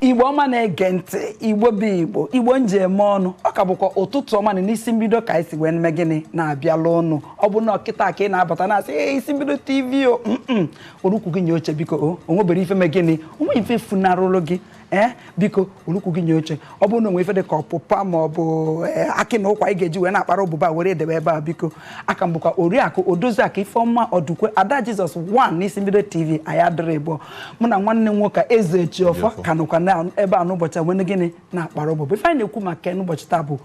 igbo ọma na-ege ntị igbo bụ igbo igbo m ji eme ọnụ ọ ka bụkwa ụtụtụ ọma na n'isi mbido ka anyị si wee na-eme gịnị na-abịala unu ọ bụ na ọ kịta ka ị na-abata na-asị ee isi mbido tv o were ukwu gị nye oche biko o o nwebero ife me gịnị o nwe ife funarụlụ gị ee biko welu ukwu gị nye oche ọ bụrụ na o nwe ife dị ka ọpụpa ma ọ bụ ee, akị na ụkwa ị ga-eji wee na-akpara ụbụbọ were edebe ebe a biko aka m bụkwa oriakụ odoziakụ ifeọma ọdụkwe ada jizọs 1 n'isi mbido tv anyị adịrị ịbụọ mụ na nwanne m nwoke ezejiọfọ ka nọkwa na ebe a n'ụbọchị a na-eme gịnị na-akpara ụbụbọ ife anyị na-ekwu maka ya n'ụbọchị taa bụ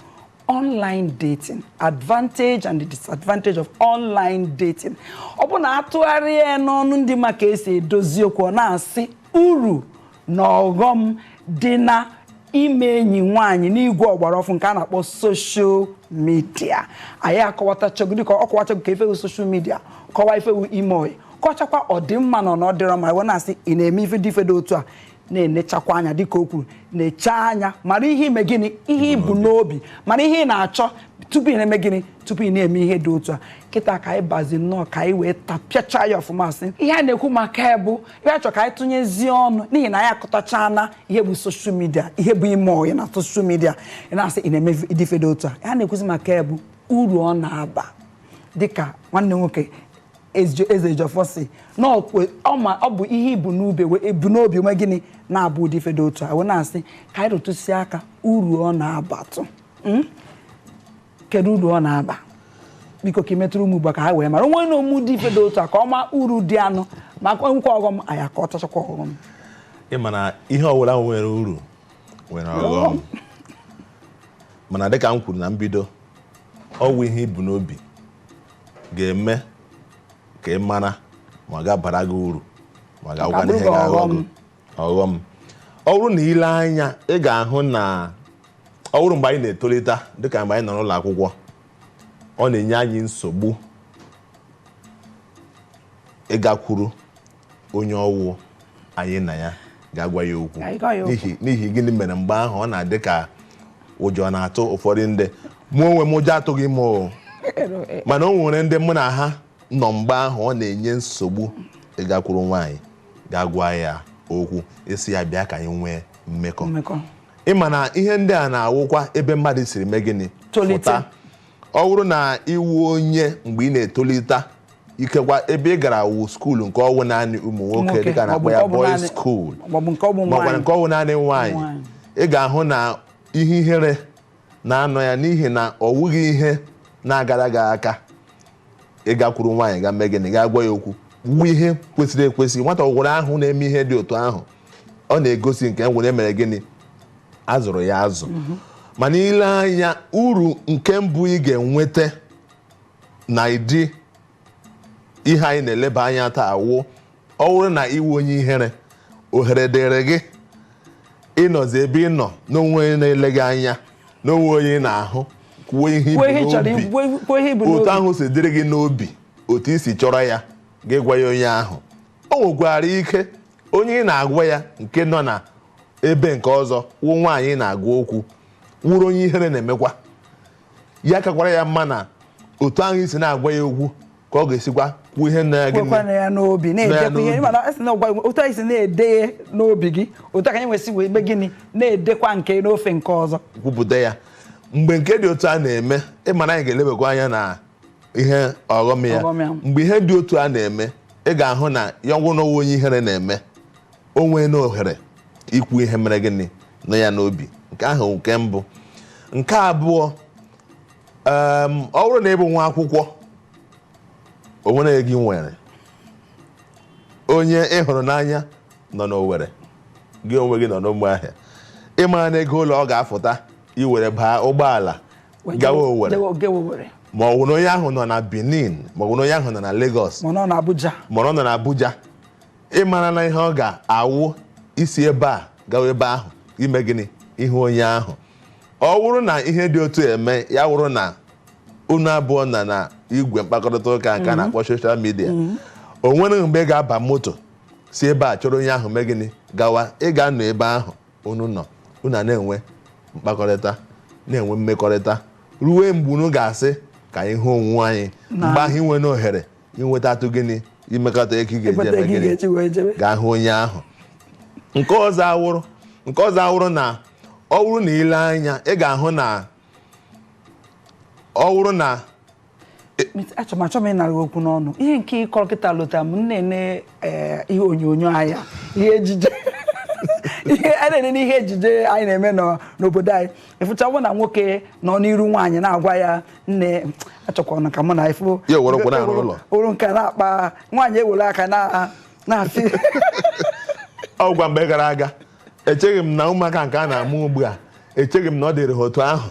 online dating advantage and the disadvantage of online dating ọ bụ na a tụgharịa ya n'ọnụ ndị ma ka e si edozi okwu ọ na-asị uru na ọghọm dị na ime enyi nwaanyị n'igwe ọgbara ọfụụ nke a na-akpọ soshal midia anyị akọwatachago dịka ọ kọwachago ka ife wụ soshal midia kọwa ife wụ ime ọyị kọchakwa ọ dị mma na ọ dịrọ mma wee na-asị ị na-eme ife dị ife dị otu a na-enechakwa anya dịka o kwuru nechaa anya mara ihe i me gịnị ihe i bu n'obi mara ihe ị na-achọ tupu ị na-eme gịnị tupu ị na-eme ihe dị otu a kịta ka anyị bazi nnọọ ka anyị wee tapịacha ya ọfụma sị ihe a na-ekwu maka ya bụ ihe a chọ ka anyị tụnyezie ọnụ n'ihi na anyị akọtachana ihe bụ soshal midia ihe bụ ime ọyị na soshal midia ị na-asị ị na-eme ụdị ife dị otu a ihe a na-ekwuzi maka ya bụ uru ọ na-aba dịka nwanne m nwoke ezejiọfọ sị na ọ bụ ihe i bu e bu n'obi eme gịnị na-aba ụdị ife dị otu a wee na-asị ka anyị rụtụzi aka uru ọ na-abatụ hmm? kedu uru ọ na-aba biko ka i metụrụ ụmụ igbo ka ha wee mara onwe na ụmụ dị ife dị otu a ka ọma uru dị ya nụ ma nwekwa ọghọm a ya-akọtachakwa ọghọm ị ma na ihe ọbụla nwere uru nwere ọghọm mana dịka m kwuru na mbido ọ wụ ihe i bu n'obi ga-eme ka ị mara ma ọ ga-abara gị uru ma ọ ga-awụkwanụ ihe ga-aghọ gị ọghọm ọ bụrụ na i lee anya ị ga-ahụ na ọ bụrụ mgbe anyị na-etolite dịka mgbe anyị nọ n'ụlọ akwụkwọ ọ na-enye anyị nsogbu ịgakwuru onye ọ wụ nwaanyị na ịga agwa ya okwu n'ihi gịnị mere mgbe ahụ ọ na-adị ka ụjọ na-atụ ụfọdụ ndị mụ onwe m ụjọ atụghị m mana o nwere ndị mụ na ha nọ mgbe ahụ ọ na-enye nsogbu ịgakwuru nwaanyị gaa gwa ya okwu ị sị ya bịa ka anyị nwee mmekọ mmekọ ị ma na ihe ndị a na-awụkwa ebe mmadụ siri mee gịnị Tolite. Pụta. ọ bụrụ na ị wụ onye mgbe ị na-etolite ikekwa ebe ị gara wụ skuulu nke ọ wụ naanị ụmụ nwoke Nwoke, dịka a na-akpọ ya boys school maọbụ nke ọ wụ naanị nwaanyị Nwaanyị. ị ga-ahụ na ihe ihere na-anọ ya n'ihi na ọ wụghị ihe na-agara gị aka ị gakwuru nwaanyị ga mee gịnị gaa gwa ya okwu wụ ihe kwesịrị ekwesị nwata ọ wụrụ a hụ na-eme ihe dị otu ahụ ọ na-egosi nke wụ na e mere gịnị a zụrụ ya azụ mana i lee anya uru nke mbụ ị ga-enweta n'ụdị ihe anyị na-eleba anya taa wụ ọ wụrụ na ị wụ onye ihere ohere dịrị gị ịnọzi ebe ị nọ na o nwee onye na-ele gị anya na o nwee onye ị na-ahụ kwuo ihe i bu n'obi otu ahụ si dịrị gị n'obi otu i si chọrọ ya gị gwa ya onye ahụ o nwekwara ike onye ị na-agwa ya nke nọ na ebe nke ọzọ wụ nwaanyị ị na-agwa okwu wụrụ onye ihere na-emekwa ya kakwara ya mma na otu ahụ i si na-agwa ya okwu ka ọ ga-esikwa kwuo ihe na gị kwekwana ya n'obi na-edekwa ihe mana a sị na ọ wụ otu anyị si na-ede n'obi gị otu a ka anyị nwesị wee mee gịnị na-edekwa nke n'ofe nke ọzọ kwupụta ya mgbe nke dị otu a na-eme ị ma na anyị ga-elebakwa anya na ihe ọghọm ya mgbe ihe dị otu a na-eme ị ga-ahụ na ya ọ wụ nwa onye ihere na-eme o nweena ohere ikwu ihe mere gịnị nọ ya n'obi nke ahụ nke mbụ nke abụọ Em, ọ wụrụ na ị bụ nwa akwụkwọ o nwere gị nwere onye ị hụrụ n'anya nọ n'Owere gị onwe gị nọ n'Ụmụahịa ị mara na ego ole ọ ga-afụta i were baa ụgbọala gawa Owere ma ọ bụ na onye ahụ nọ na Benin ma ọ bụ na onye ahụ nọ na Lagos ma ọ nọ na Abuja ị mara na ihe ọ ga-awụ isi ebe a gawa ebe ahụ ime gịnị ịhụ onye ahụ ọ wụrụ na ihe dị otu a mee ya wụrụ na unu abụọ nọ na igwe mkpakọrịta ụka nke a na-akpọ social media o nwere mgbe ị ga-aba moto si ebe a chọrọ onye ahụ mee gịnị gawa ị ga-anọ ebe ahụ unu nọ unu ana-enwe mkpakọrịta na-enwe mmekọrịta ruo mgbe unu ga-asị ka anyị hụ onwe anyị mgbe ahụ i nweena ohere inwetatụ gịnị imekọta ego ị ga-eji eme gịnị gaa hụ onye ahụ nke ọzọ awụrụ nke ọzọ awụrụ na ọ wụrụ na i lee anya ị ga-ahụ na ọ wụrụ na achọ m achọ m ịnara okwu n'ọnụ ihe nke ị kọrọ kịta lota m na-ene ee ihe onyonyo anya ihe ejije ihe a na-ene n'ihe ejije anyị na-eme n'obodo anyị ị fụchabụ na nwoke nọ n'iru nwaanyị na-agwa ya nne achọkwana ka mụ na ị fụrụ nke na-akpa nwaanyị ewere aka na na-asị ọ wụ mgbe gara aga echeghị m na ụmụaka nke a na-amụ ugbu a echeghị m na ọ dịrị ha otu ahụ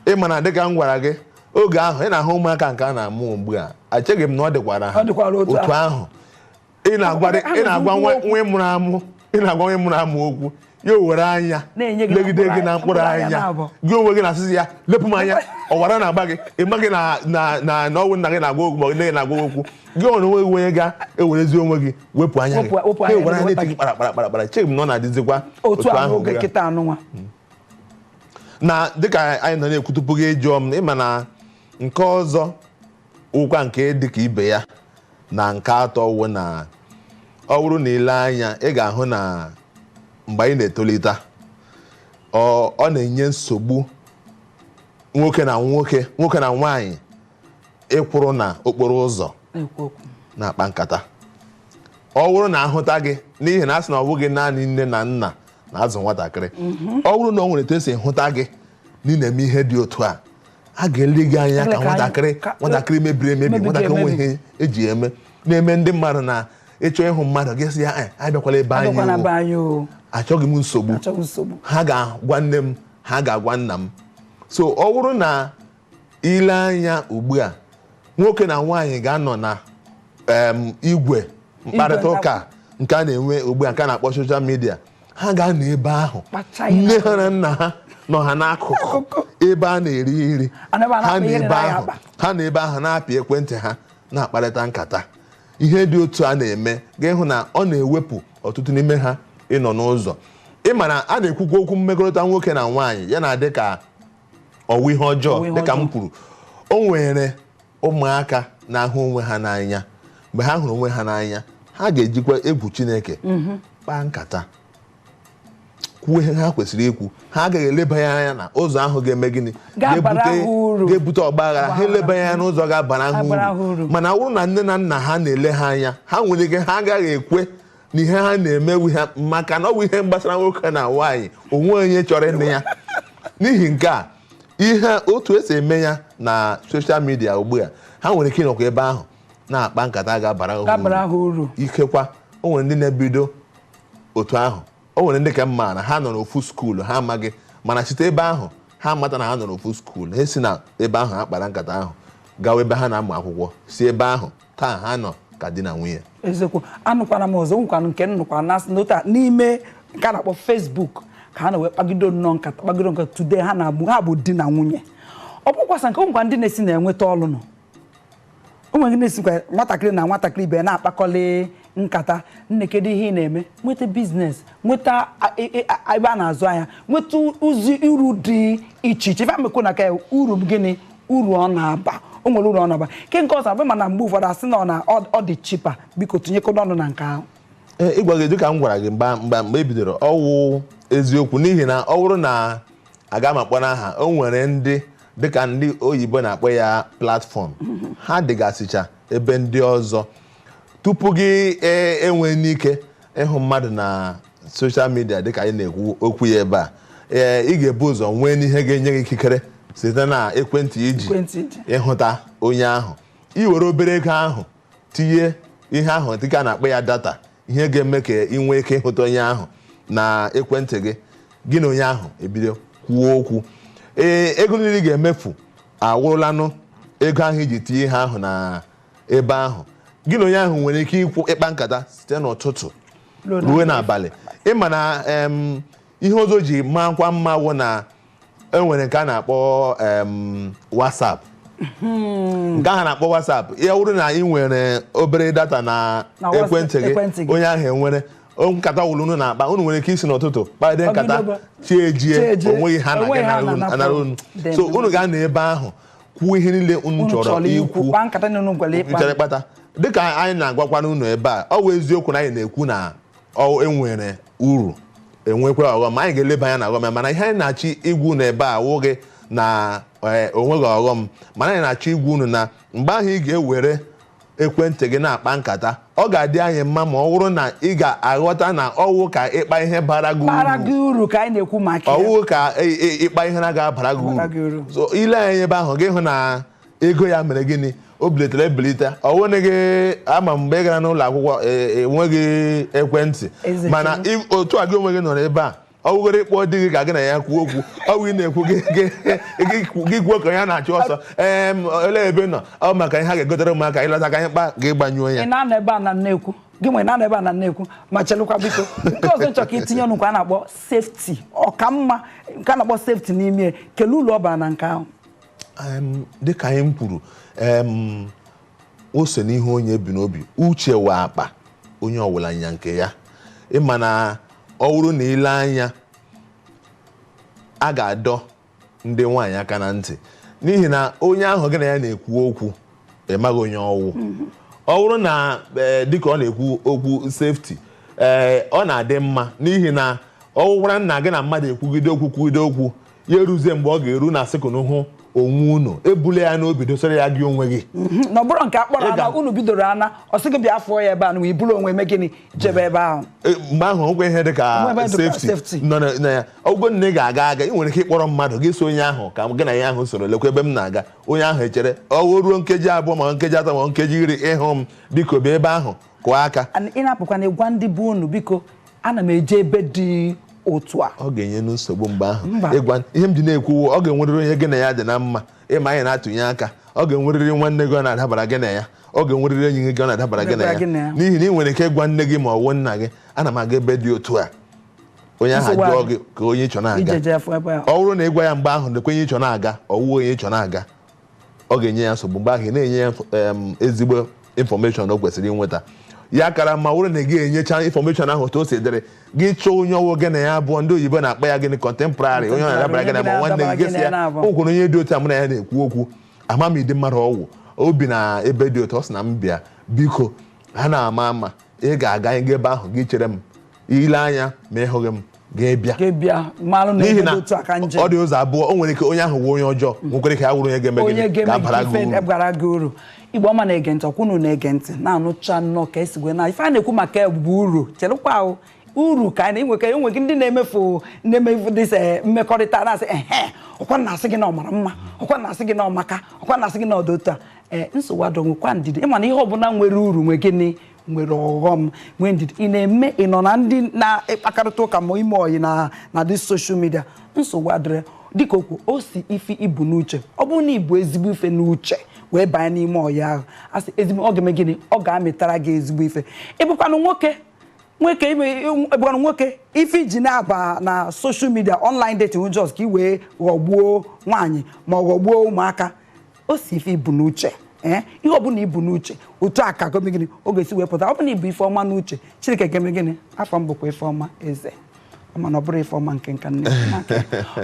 ị ma na dịka m gwara gị oge ahụ ị na-ahụ ụmụaka nke a na-amụ ugbu a echeghị m na ọ dịkwara ha Ọ dịkwara otu otu ahụ ị na-agwa Ha nọ na-agwa nwa n'ugwu nwa ị mụrụ amụ ị na-agwa nwa ị mụrụ amụ okwu ya o were anya Na-enye gị na legide mkpụrụ gị na anya- mkpụrụ mkpụrụ anya anya na-abụ. gị onwe gị na-asịzi ya lepụ m anya ọ wụ ara na-agba gị ị maghị na na na na ọ wụ nna gị na-agwa okwu ma ọ bụ nne gị na-agwa okwu gị nwere onwe gị onye ga-ewerezi onwe gị wepụ anya gị Wepụ- wepụ Ha anya gị, ewere anya wepụ na-eti gị kpara kpara kpara kpara echeghị m na ọ na-adịzikwa otu ahụ oge ugbu a. kịta anụnwa na dịka anyị nọ na-ekwu tupu gị ajụọ m ị ma na nke ọzọ wụkwa nke dịka ibe ya na nke atọ wụ na ọ bụrụ na i lee anya ị ga-ahụ na mgbe anyị na-etolite ọ ọ na-enye nsogbu nwoke na nwoke nwoke na nwaanyị ịkwụrụ na okporo ụzọ na-ekwu okwu na-akpa nkata ọ bụrụ na a hụta gị n'ihi na a sị na ọ bụghị naanị nne na nna na-azụ nwatakịrị ọ bụrụ na ọ nwere etu e si hụta gị na ị na-eme ihe dị otu a a ga-ele gị anya Ele ka ka anyị- nwatakịrị ka- nwatakịrị mebiri emebi mebiri nwatakịrị emebi. nweghị ihe e ji eme na-eme ndị mmadụ na ị chọọ ịhụ mmadụ gị sị ya "Eh, abịakwala be anyị abịakwana o." be anyị o achọghị m nsogbu achọghị nsogbu ha ga-agwa nne m ha ga-agwa nna m so ọ bụrụ na i lee anya ugbu a nwoke na nwaanyị ga-anọ na em, igwe mkparịta ụka nke a na-enwe ugbu a nke a na-akpọ soshal midia ha ga-anọ ebe ahụ Kpacha ya. nne ha na nna ha nọ ha n'akụkụ ebe a na-eri nri Ana m anakpa ha na ihe dị ebe na ya ahụ akpa. ha nọ ebe ahụ na-apị ekwentị ha na-akparịta nkata ihe dị otu a na-eme ị ga-ahụ na ọ na-ewepụ ọtụtụ n'ime ha ịnọ n'ụzọ ị ma na a na-ekwukwa okwu mmekọrịta nwoke na nwaanyị ya na-adị ka ọ wụ ihe ọjọọ Ọ wụ ihe dịka m ọjọọ. kwuru o nwere ụmụaka na-ahụ onwe ha n'anya mgbe ha hụrụ onwe ha n'anya ha ga-ejikwa egwu Chineke kpaa nkata kwuo ihe ha kwesịrị ikwu ha agaghị eleba ya anya na ụzọ ahụ ga-eme gịnị Ga-abara Ga-ebute- ha uru. ga-ebute ọgba aghara ha eleba ya anya n'ụzọ ga-abara Ga-abara ha ha uru uru. mana ọ bụrụ na nne na nna ha na-ele ha anya ha nwere ike ha agaghị ekwe na ihe ha na-emewu ha maka na ọ bụ ihe gbasara nwoke na nwaanyị o nweghị onye chọrọ ịnụ ya n'ihi nke a ihe otu e si eme ya na soshal midia ugbu a ha nwere ike ịnọkwa ebe ahụ na-akpa nkata ga-abara ha uru. dabara ha uru ikekwa o nwere ndị na-ebido otu ahụ o nwere ndị nke m maara ha nọ n'ofu skuulu ha amaghị mana site ebe ahụ ha mata na ha nọ n'ofu skuulu ha si na ebe ahụ ha kpara nkata ahụ gawa ebe ha na-amụ akwụkwọ si ebe ahụ taa ha nọ ka di na nwunye eziokwu anụkwara m ọzọ o nwekwara nke m nụkwara na a sị n'otu a n'ime nke a na-akpọ Facebook ka ha nọ wee kpagido nnọọ nkata kpagido nkata today ha na-abụ ha bụ di na nwunye ọ bụkwa sọ nke o nwekwa ndị na-esi na-enweta ọlụ nọ o nwere ndị na-esikwa nwatakịrị na nwatakịrị ibe ya na-akpakọlị nkata nne kedu ihe ị na-eme nweta biznes nweta a- e- e- a- ebe a na-azụ ahịa nweta ụzọ uru dị iche iche ife amekwu na ka ya, uru gịnị uru ọ na-aba o nwere uru ọ na-aba ke nke ọzọ abụ mana mgbe ụfọdụ a sị na ọ na- ọ ọ dị chipa biko tinyekodo ọnụ na nke ahụ Ee, ịgwa gị dịka m gwara gị mgbe mgbe mgbe e bidoro ọ wụ eziokwu n'ihi na ọ bụrụ na aga m akpọ n'aha o nwere ndị dịka ndị oyibo na-akpọ ya platfọm ha dịgasịcha ebe ndị ọzọ tupu gị e- enwee n'ike ịhụ mmadụ na soshal midia dịka anyị na-ekwu okwu ya ebe a ee ị ga-ebu ụzọ nwee n'ihe ga-enye gị ikikere site na ekwentị i ji Ekwentị i ji. ịhụta onye ahụ i were obere ego ahụ tinye ihe ahụ dịka a na-akpọ ya data ihe ga-eme ka ị nwee ike ịhụta onye ahụ na ekwentị gị gị na onye ahụ ebido kwuo okwu ee ego niile ị ga-emefu awụrụlanụ ego ahụ i ji tinye ihe ahụ na ebe ahụ gị na onye ahụ nwere ike ịkwụ ịkpa nkata site n'ụtụtụ ruo n'abalị ị ma na em, ihe ọzọ ji maakwa mma wụ na e nwere nke a na-akpọ em, WhatsApp nke ahụ na-akpọ WhatsApp ya wụrụ na ị nwere obere data na Na WhatsApp- ekwentị gị ekwentị gị. onye ahụ enwere o- nkata ọwụla unu na-akpa unu nwere ike isi n'ụtụtụ kpagide nkata Ọgịdogo. chi ejie Chi ejie. o nweghị ihe a O nweghị ihe a na-aga na-anara unu Dị so mma. unu ga-anọ ebe ahụ kwuo ihe niile unu Unu chọrọ chọrọ ikwu ikwu kpaa nkata na unu chọrọ ịkpa chọrọ ịkpata dịka anyị na-agwakwanụ unu ebe a ọ bụ eziokwu na anyị na-ekwu na ọ e nwere uru enwekwa ọghọm ma anyị ga-eleba anya na ọghọm ya mana ihe anyị na-achọ ịgwa unu ebe a wụghị na eh, o nweghị ọghọm mana anyị na-achọ ịgwa unu na mgbe ahụ ị ga-ewere ekwentị gị na-akpa nkata ọ ga-adị anyị mma ma ọ bụrụ na ị ga-aghọta na ọ wụ ka ị kpaa ihe bara gị bara uru gị uru ka anyị na-ekwu maka ya ọ wụ ka ị- ị- ịkpa ihe na ga-abara gị Bara gị uru uru. so i lee anya ebe ahụ gị hụ na ego ya mere gịnị o bilitere ebilite ọ wụ na gị ama mgbe ị gara n'ụlọ akwụkwọ e- enweghị ekwentị Eziokwu. mana ị- otu a gị onwe gị nọrọ ebe a ọ wụgoro ịkpọ di gị ka gị na ya kwuo okwu ọ wụ ị na-ekwu gị- gị- gị- gị kwuo ka ya na-achụ ọsọ ee m, olee ebe ị nọ ọ maka ihe ha ga-egotere ụmụaka ị lọta ka anyị kpaa gị gbanyụọ ya ị na-anọ ebe a na na-ekwu gị nwere na-anọ ebe a na na-ekwu ma chelụkwa biko nke ọzọ m chọrọ ka i tinye ọnụ nke a na-akpọ sefti ọ ka mma nke a na-akpọ sefti n'ime ya. kelee uru ọ bara na nke ahụ Em, dịka ihe m kwuru em, o si n'ihe onye bu n'obi uche wụ akpa onye ọwụla nya nke ya ị ma na ọ bụrụ na i lee anya a ga-adọ ndị nwaanyị aka na ntị n'ihi na onye ahụ gị na ya na-ekwu okwu ị maghị onye ọ wụ ọ bụrụ na ee, dịka ọ na-ekwu okwu sefti ee ọ na-adị mma n'ihi na ọ wụkwara na gị na mmadụ ekwugide okwu kwugide okwu ya eruzie mgbe ọ ga-eru na sị ka unu hụ onwe unu ebule ya n'obi dosara ya gị onwe gị mhm. na ọ bụrụ nke akpọrọ ana unu bidoro ana ọ sị gị bịa fụọ ya ebe a na i buru onwe i mee gịnị jebe ebe ahụ e, mgbe ahụ o nwe ihe dị ka safety nọ na ya ọ wụgo na ị ga-aga aga ị nwere ike ịkpọrọ mmadụ gị sị onye ahụ ka gị na ya ahụ soro lekwa ebe m na-aga onye ahụ echere ọ wụ ruo nkeji abụọ ma nkeji atọ ma nkeji iri ị hụghị m biko bịa ebe ahụ kụọ aka And ị na-apụkwana ị gwa ndị be unu biko ana m eje ebe dị otu a ọ ga-enye nu nsogbu mgbe ahụ Mba. ịgwa ihe m ji na-ekwu ọ ga-enwerịrị onye gị na ya dị na mma ị ma anyị na-atụnye aka ọ ga-enwerịrị nwanne gị ọ na-adabara gị na ya ọ ga-enwerịrị enyi gị ọ na-adabara gị na Dabara gị na ya ya. n'ihi na ị nwere ike ịgwa nne gị ma ọ wụ nna gị ana m aga ebe dị otu a onye ahụ Nsogbu jụọ adị. gị ka onye ị chọ na-aga ị jeje afụ ebe a ọ wụrụ na ị gwa ya mgbe ahụ nekwa onye ị chọ na-aga ọ wụ onye ị chọ na-aga ọ ga-enye ya nsogbu mgbe ahụ ị na-enye ya info- em, ezigbo information o kwesịrị inweta ya kara ma wụrụ na gị enyecha information ahụ otu o si dịrị gị chọọ onye ọ wụ gị na ya abụọ ndị oyibo na-akpọ ya gịnị contemporary onye ọ na-adabara gị na ma nwanne gị gị sị ya o nwere onye dị otu a mụ na ya na-ekwu okwu ama m ụdị mmadụ ọ wụ o bi na ebe dị otu ọ sị na m bịa biko ana m ama ama ga-aga ebe ahụ gị chere m i lee anya ma ị hụghị m gị abịa gị abịa malụ na n'ihi na otu aka nje ọ dị ụzọ abụọ o nwere ike onye ahụ wụ onye ọjọọ nwekwara ike ya wụrụ onye ga-eme onye gịnị ga-eme ga-abara gị ife uru gwara gị uru igbo ọma na-ege ntị ọkwa unu na-ege ntị na-anụcha nnọọ ka e si wee na ife a na-ekwu maka bụ uru chelụkwa ahụ uru ka anyị na-enwe ka enwe gị ndị na-emefu na-emefu dịsa mmekọrịta na-asị ehe ọkwa na-asị gị na ọ mara mma ọkwa na-asị gị na ọ maka ọkwa na-asị gị na ọ dị otu a ee nsogbu adịrọ nwekwa ndidi ị ma na ihe ọbụla nwere uru nwee gịnị nwere ọghọm nwee ndidi ị na-eme ị nọ na ndị na-akparịta ụka ma ime ọyị na na dị social media nsogbu adịrọ dịka o kwu o si ife i bu n'uche ọ bụrụ na i bu ezigbo ife n'uche wee banye n'ime ọyị ahụ asị ezigbo ọ ga-eme gịnị ọ ga-amịtara gị ezigbo ife ị bụkwanụ nwoke nwoke ị bụkwanụ nwoke ife i ji na-aba na social media online dating just ka ị wee ghọgbuo nwaanyị ma ọ ghọgbuo ụmụaka o si ife i bu n'uche ee ihe ọbụla i bu n'uche otu a ka ọ ga-eme gịnị ọ ga-esi wee pụta ọ bụlụ na i bu ife ọma n'uche chineke ga-eme gịnị afọ m bụkwa ife ọma eze mana ọ bụrụ ife ọma nke nka nne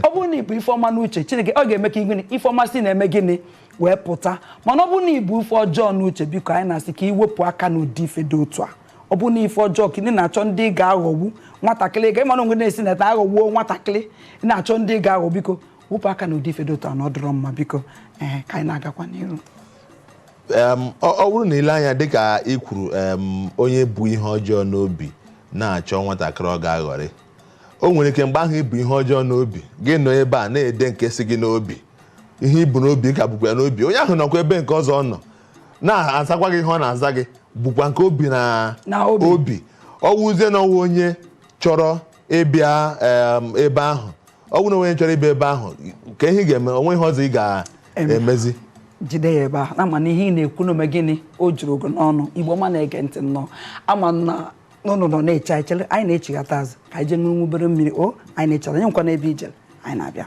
ọ bụrụ na i bu ife ọma n'uche chineke ọ ga-eme ka gịnị ife ọma si na-eme gịnị wee pụta mana ọ bụrụ na i bu ife ọjọọ n'uche biko anyị na-asị ka i wepụ aka n'ụdị ife dị otu a ọ bụrụ na ife ọjọọ ka ị na-achọ ndị ị ga-aghọgbu nwatakịrị ga ị ma na onwe na-esi na ta aghọgbuo nwatakịrị na-achọ ndị ị ga-aghọ biko wepụ aka na ụdị ife dị otu a na ọ dịrọ mma biko ee ka anyị na-agakwa n'iru Em, ọ ọ wụrụ na i lee anya dịka ị kwuru em, onye bu ihe ọjọọ n'obi na-achọ nwatakịrị ọ ga-aghọrị o nwere ike mgbe ahụ i bu ihe ọjọọ n'obi gị nọ ebe a na-ede nke si gị n'obi ihe i bu n'obi ka bukwa ya n'obi onye ahụ nọkwa ebe nke ọzọ ọ nọ na-azakwa gị ihe ọ na-aza gị bukwa nke o bu na Na obi. ọ wụzie na ọ wụ onye chọrọ ịbịa ebe ahụ ọ bụrụ na onye chọrọ ịbịa ebe ahụ ka ihe ga-eme o nwee ihe ọzọ ị ga-emezi jide ya ebe ahụ na ama m na ihe ị na-ekwu na o me gịnị o jurugo n'ọnụ igbo ọma na-ege ntị nnọọ ama m na unu nọ na-eche anyị chere anyị na-echighata azụ ka anyị jee ṅụrụ obere mmiri o anyị na-echere anyị enwekwana ebe i jere anyị na-abịa